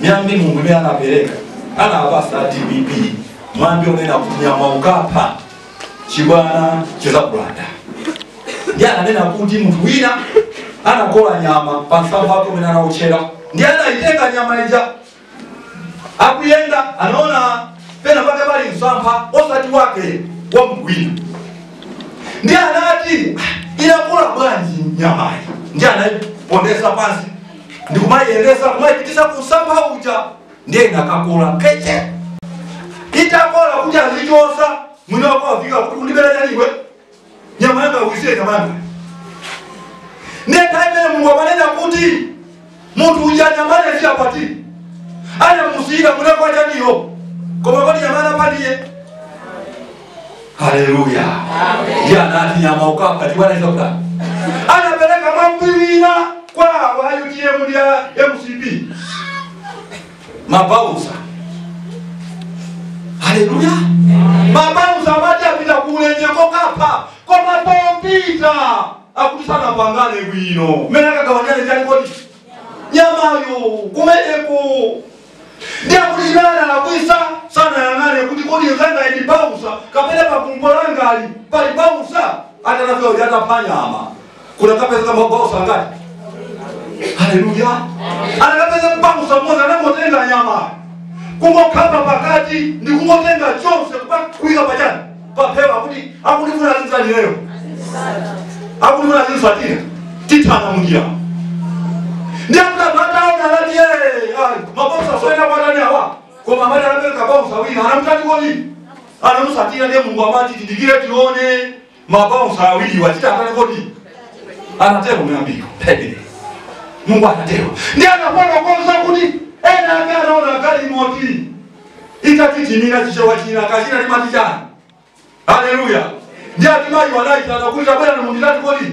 miyambi mulungu imene anapereka anawapasa dpp mwambi onena kuti nyama ukapha chibwana chizakulanda ndiye ananena kuti munthu wina anakola nyama pa msampha wake umene anauchera ndiye anayitenga nyama ija akuyenda anaona pena pake pali msampha osati wake wa munthu wina ndiye anati "Ah, inakula bwanji nyamayi ndiye anayipondesa pansi ndikumayiyendesa kumayipitisa kumsampha uja ndiye inakakola keche itakola kuti azichosa mwini wake afika kuti ukundibera chani iwe nyama yanga uyisiye nyama yanga nde nthawi imene mulungu amanena kuti munthu uja nyamale ziyapati anamusiyira kunakwa chaniyo koma kodi nyamala paliye haleluya ndiye anati nyama ukapha chibwana chizakulanda anapereka mwambi wina kwa awa utm ndi a mcp mabaunsa haleluya mabaunsa amati apita kuulenje kokapha koma popita akuti sanapangane bwino mmene akagawanane chani kodi nyamayo kumeneko ndiye akuti chimene analakwisa sanayang'ane kuti kodi mzanga ndi baunsa kapena pakumbo langali pali baunsa atanafika kuti atapha nyama kunakapezeka mabaunsa angati haleluya anakapeza baunsa mmozi anangotenga nyama kungokhapa pakati ndi kungotenga chonse kupa- kuyika pachani paphewa kuti akundifuna azizani lero akundifuna azindisatira tithana munjira ndi akutapataona lati ye mabaunsa soyenera kuwatani awa koma amati anapezeka baunsa wina anamutani kodi anamusatira ndiye mulungu amati tidikire tione mabaunsa awiriwa titi atani kodi anatero muyambiko pegere mungu anatero ndi anafotokoza kuti ena ake anaona galimoti itatitimira chichewa china kachina timati chani haleluya ndi ati mayi anaitana kuti tabwerani munditani kodi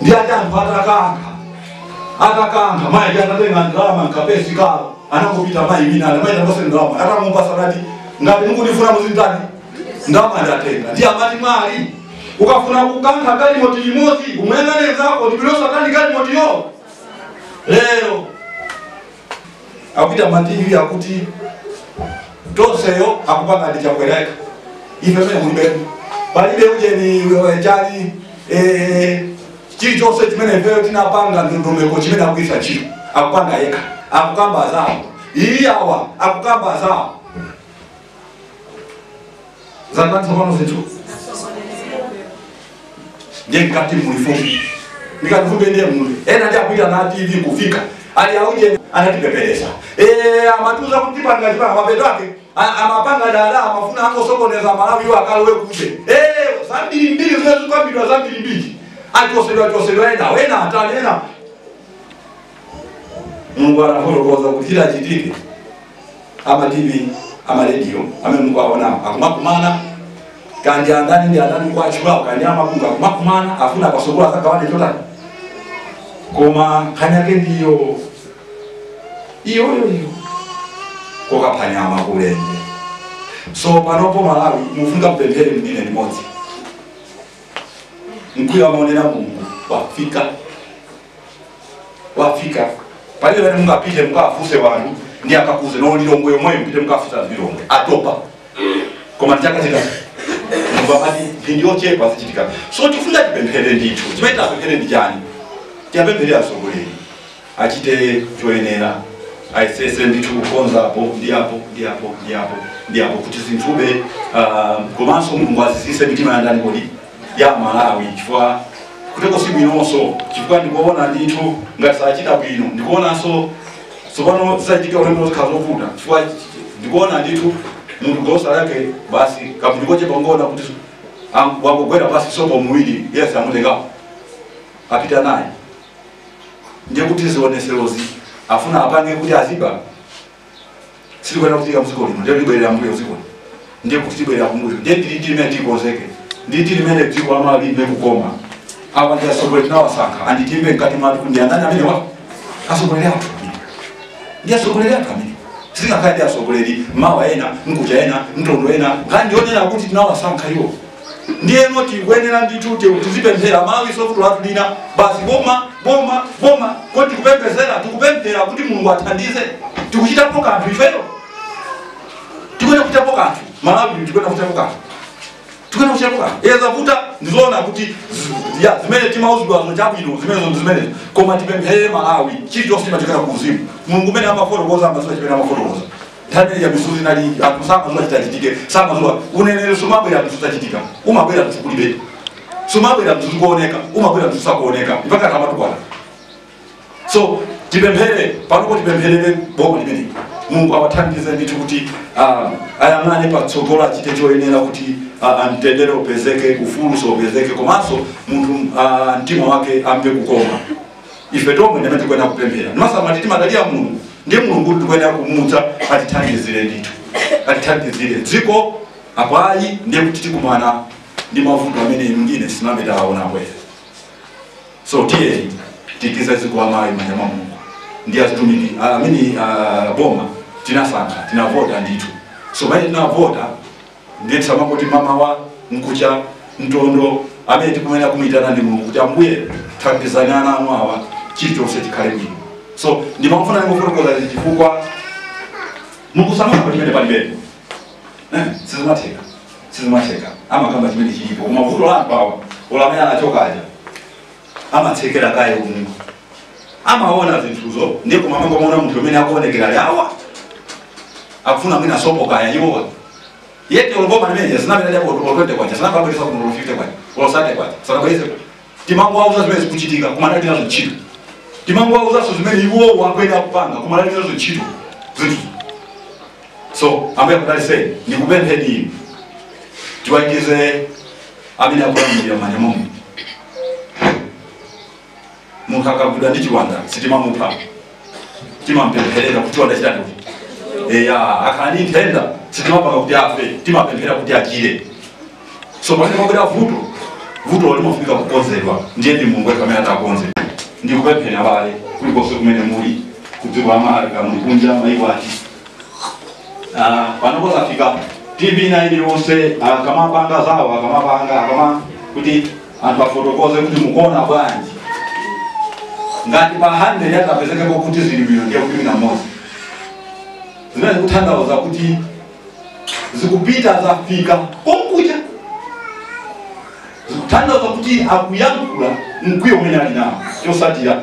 ndi ati anthu atakankha atakankha mayi ndi atatenga ndalama mkapesi kawo anangopita mayi wina ali mayi tapase ndalama atamupasa nati ngati mukundifuna muzinditani ndalama ndatenga ndi amati mwali ukafuna kukankha galimoti limodzi umuyang'ane mzako ndipilosatani galimotiyo lero akupita mativi akuti tonseyo akupanga ndi chakwera yekha ife mene kulibepo palibe ujeni eh, chali eh, chilichonse chimene ifeyo tinapanga ndondomeko chimene akugwiritsa ntchito akupanga yekha akukamba zawo iyi awa akukamba zawo zandanthu pano zinthu ndiye mkati muli fumbi ndikati fumbi ndiye muli ena ndi akuita na tv kufika ali auje anatipepelesa Eh, amatiuza kuti panga chipanga mapeto ake a- amapanga dala amafuna angosokoneza malawi iwo akalowe kuuje Eh, zambirimbiri zimene zikambidwa zambirimbiri achosedwa chosedwa ena wena atani ena mulungu anafotokoza kuti chitachitike amativi amarediyo amene mukuwaonawo akumakumana kandi andani ndi andani kuwatchulawo kandi amabuku akumakumana afuna pasogolo azagawane chotani koma nkhani yake ndiyo iyoyoyo kokaphanyama kulende so panopo malawi mufunika kupemphera mdine limodzi mkwiyo amaonera mulungu wafika wafika palibe pamene mungapite mukafuse wanthu ndi akakuuzeni lilongwe yomweyo mupite mukafuse lilongwe atopa koma ndichakatika mubabati ndindiyochepa zichitika so tifuna tipemphere ndithu chimene tapemphere ndi chani tipemphere atsogoleri achite choyenera ayesese ndithu kukonza apo ndi apo ndi apo ndi apo ndi apo kuti zinthu zibe ah, komanso mulungu azizise mitima ya ndani kodi ya amalawi chifukwa kuteko si bwinonso chifukwa ndikuona ndithu ngati sachita bwino ndikuonanso tsopano zisachitike ulendo zikhala zovuta chifukwa chi- chi- ndikuona ndithu munthu golosale yake basi kamunthu kochepa ungoona kuti am- wangogwera basi sopo muwiri yese amutengapo apita naye ndiye kuti zioneserozi afuna apange kuti aziba sizikuyenera kuchitika mdziko lino ndiye libwerera mbuyo mdziko lino ndiye kuti tibwerera kumbuyo ndiye ndili ndi imene tikonzeke ndi tili imene dziko la malawi limve kukoma awa ndi asogoleri tinawasankha anditibe mkati mwathu ndi andani amenewa asogoleri athu ndi asogoleri athu amene sitingakhale ndi asogoleri mawa ena mkucha ena mtondo ena nkhani ndi yonena kuti tinawasankha iwo ndiyeno tikuyenera ndithu ti- tizipemphera malawi so vuto lathu lina basi boma boma boma kodi tikupemphezera tikupemphera kuti mulungu athandize tikuchitapo kanthu ifeyo tikuyenera kuchitapo kanthu malawi tikuyenera kuchitapo kanthu tikuyenera kuchitapo kanthu iye zavuta ndizoona kuti zi- ya zimene timauzidwazo chabwino zimenezo ndi zimenezo koma tipempherere malawi chilichonse chimachokera ku uzimu mulungu mmene amafotokoza amaziwa chimene amafotokoza nthawi ya misuli nali anthu samaziwa chitachitike samaziwa uneneri sumabwera zinthu zitachitika umabwera zinthu kulibe sumabwera zinthu zikuoneka umabwera zinthu zisakuoneka mpaka tamatukwana so tipemphere panopo tipempherere boma limeneli mulungu awathandize ndithu kuti ah, ayang'ane patsogolo achite choyenera kuti ah, ah, mtendere upezeke ufulu upezeke komanso munthu ah, mtima wake amve kukoma ife tomwe ndimene tikuyenera kupemphera ndimasamati timadalira mulungu ndiye mulungu tikuyenera kumuuza atithandizire ndithu atithandizire dziko apo ayi ndiye kuti tikumana ndi mavuto amene inu ndine sitinambe tawaona kale so tiyeni tiikize dziko amayi mmanja mwa mulungu ndi azitumiki amene ah, boma tinasankha tinavota ndithu so pamene tinavota ndiye tisamangoti mamawa nkucha ntondo amene tikuyenera kumuyitana ndi mulungu kuti ambuye thandizani ana anu awa chilichonse chikhale bwino so ndimafuna ndingofotokoza izi chifukwa mukusamala pa chimene palibepo Eh, sizimatheka sizimatheka amakamba chimene chilipo koma vuto la anthu awa olo amene anachokaja amatsekera kaye umu amaona zinthuzo ndiye koma amangomaona munthu amene akuonekera awa akufuna mwina sopo kaya iwowa yeti olo boma limene zinapita japo olo twente kwacha sanabweze kuno olo fifite kwacha olo sate kwacha sanabweze timangowauza zimene zikuchitika koma alibe nazo ntchito timangowauzanso zimene iwowo akuyenera kupanga koma alibe nazo ntchito zinthu so ambuye akudalitseni ndikupempheni inu tiwayikize amene akulamulira mmanja mwa mulungu munthu akagwidwa ndi chiwanda sitimamupha timampempherera kuti chiwanda chitani eya akakhala ndi nthenda sitimapanga kuti afe timapemphera kuti achire so pamene pabwera vuto vuto limafunika kukonzedwa ndiye ndi mulungu yekha amene atakonze ndikupempha abale kulikonse kumene muli kudziko la malawi kaya muli kunja maiko ati Ah, panopo zafika tv ina iliyonse akamapanga zawo akamapanga akama kuti anthu afotokoze kuti mukuona bwanji ngati pa 100 atapezekepo kuti zili bwino ndiye kuti mwina mmodzi zimene zikutanthauza kuti zikupita zafika konkuja zikutanthauza kuti akuyankhula mkwiyo umene ali nawo chotsatira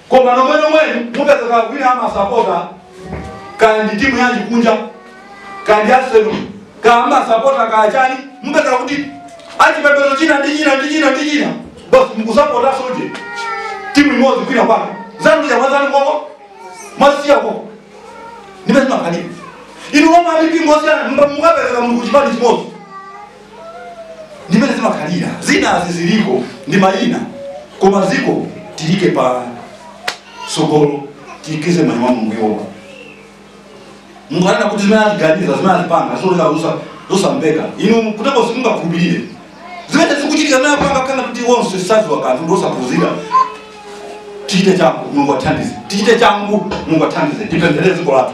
koma nomwe nomwenu mupezeka kaya kwina amasapota kaya ndi timu yanji kunja kaya ndi arsenal kaya amasapota kaya chani mupeza kuti achipembedzo china ndi china ndi china ndi china basi mukusapota sonje timu imodzi kwina kwake zanu mwamwazana koko mwasiya koko ndimene zimakhalira inu omwe amipingo osiyana mukapezeka muli kuchipani chimodzi ndimene zimakhalira zinazi zilipo ndi mayina koma dziko tiliike patsogolo tiikize mmanja mwa mulungu yehova mulungu anena kuti zimene atiganiza zimene atipanga zodeka zosa- zosamveka inu kuteko simungakhulupirire zimene zikuchitika zimene apanga kunena kuti onse sadziwa kanthu ndi osaphunzira tichite changu mulungu athandize tichite changu mulungu athandize tipempherere dziko lathu